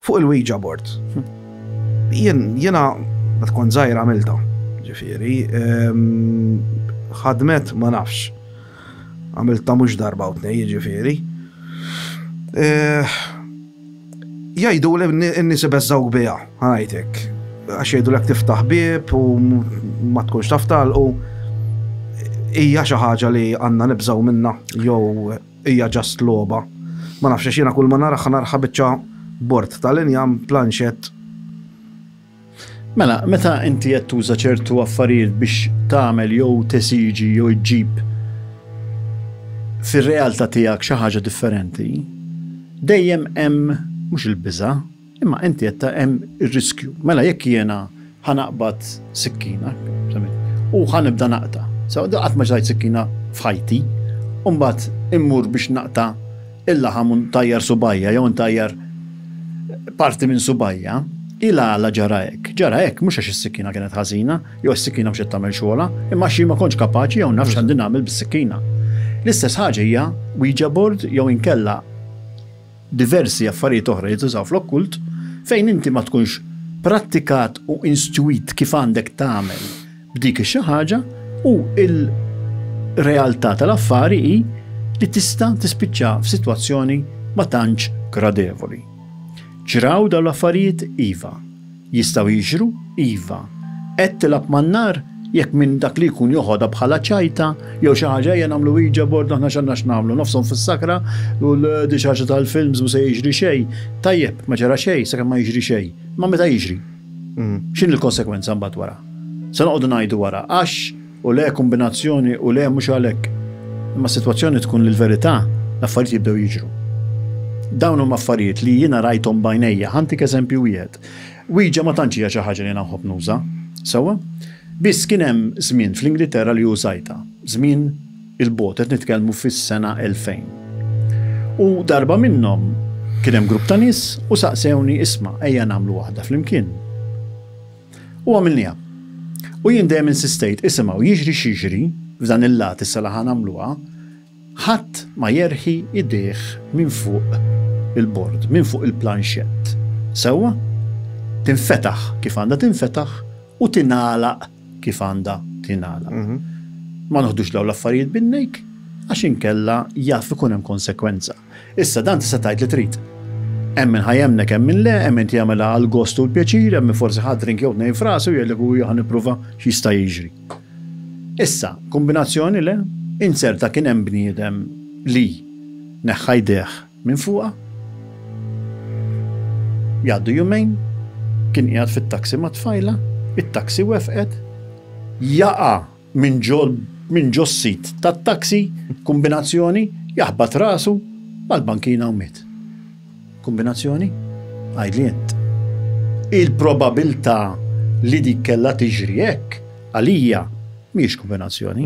Fuq il-Ouija board. Jiena ma tkun żgħir għamilta, ġifieri, ħadmet ma nafx. Għamilta mhux darba u tnej, ġifieri. Jgħidu li n-nies ibeżżawk biha, ħanajtek. Għax jgħidu l tiftaħ bib u ma tkunx taf talqu. Hija xi ħaġa li għandna nibżgħu minna jew Hija just logħba. Ma nafx għax jiena kulma naraha narha biċċa bord ta' l-injam, planxett. Mela, meta inti qed tuża ċertu affarijiet biex tagħmel jew tesiġi jew iġġib fir-realtà tiegħek xi ħaġa differenti, dejjem hemm mhux il-biża', Imma inti qed ta' hemm ir-riskju. Mela jekk jiena ħa naqbad sikkina, u ħa nibda naqta'. Sew, qatt ma xtajt sikkina f'ħajti, u mbagħad immur biex naqta' il-laħam u ntajjar subgħajja jew intajjar parti minn subgħajja. Hi l-għala ġara hekk. Ġara hekk mhux għax is-sikkina kienet ħażina, jew għax is-sikkina mhux qed tagħmel xogħolha, imma għax jien ma kontx kapaċi jew nafx x'għandi nagħmel bis-sikkina. L-istess ħaġa hija Ouija board jew inkella diversi affarijiet oħra li jintużaw fl-okkult, fejn inti ma tkunx prattikat u instwit kif għandek tagħmel b'dik ix-xi ħaġa u l-realtà tal-affari hi li tista' tispiċċa f'sitwazzjoni ma tantx gradevoli. Ġraw dawn l-affarijiet? Iva. Jistgħu jiġru, iva. Qed tilgħab man-nar? Jekk minn dak li jkun joħodha bħala ċajta jew xi ħaġa ejja nagħmlu Ouija board aħna x'għandna x'nagħmlu nofshom fis-sakra u dik xi ħaġa tal-films mhu se jiġri xejn. Tajjeb, ma ġara xejn sakemm ma jiġri xejn. Imma meta jiġri? X'inhi l-konsegwenza mbagħad wara? Se noqogħdu ngħidu wara għax u le kombinazzjoni u le mhux għalhekk. Imma s-sitwazzjoni tkun li l-verità, l-affarijiet jibdew jiġru. Dawn huma affarijiet li jiena rajthom b'għajnejja. Ħantik eżempju wieħed. Ouija ma tantx hija xi ħaġa li jiena nħobb nuża. Sewwa? Biss kien hemm żmien fl-Ingilterra li użajtha. Żmien il-bogħod, qed nitkellmu fis-sena 2000. U darba minnhom kien hemm grupp ta' nies u saqsewni isma' ejja nagħmlu waħda flimkien. U għamilniha. U jien dejjem insistejt, isimgħu, jiġri x'jiġri, f'dan il-lat issa li ħa nagħmluha, ħadd ma jerħi idejh minn fuq il-bord, minn fuq il-planxett. Sewwa? Tinfetaħ kif għandha tinfetaħ u tingħalaq kif għandha tingħalaq. Ma noħdux dawn l-affarijiet bin-nejk għax inkella jaf ikun hemm konsekwenza. Issa, dan tista' tgħid li trid. Hemm min ħa jemmnek hemm min le, hemm min jagħmilha għall-gost u l-pjaċir, hemm min forsi ħa drink jew tnejn f'rasu u jgħidlek u ħa nipprova x'jista' jiġri. Issa, kombinazzjoni le? Inzerta kien hemm bniedem li neħħa jdejh minn fuqha. Jgħaddu jumejn, kien qiegħed fit-taxi mat-tfajla, it-taxi wefqet, jaqa' minn ġo minn ġo s-sit tat-taxi, kumbinazzjoni, jaħbat rasu mal-bankina u miet. Kumbinazzjoni? Għidli int. Il-probabilità li dik kellha tiġri hekk, għalija, mhijiex kumbinazzjoni.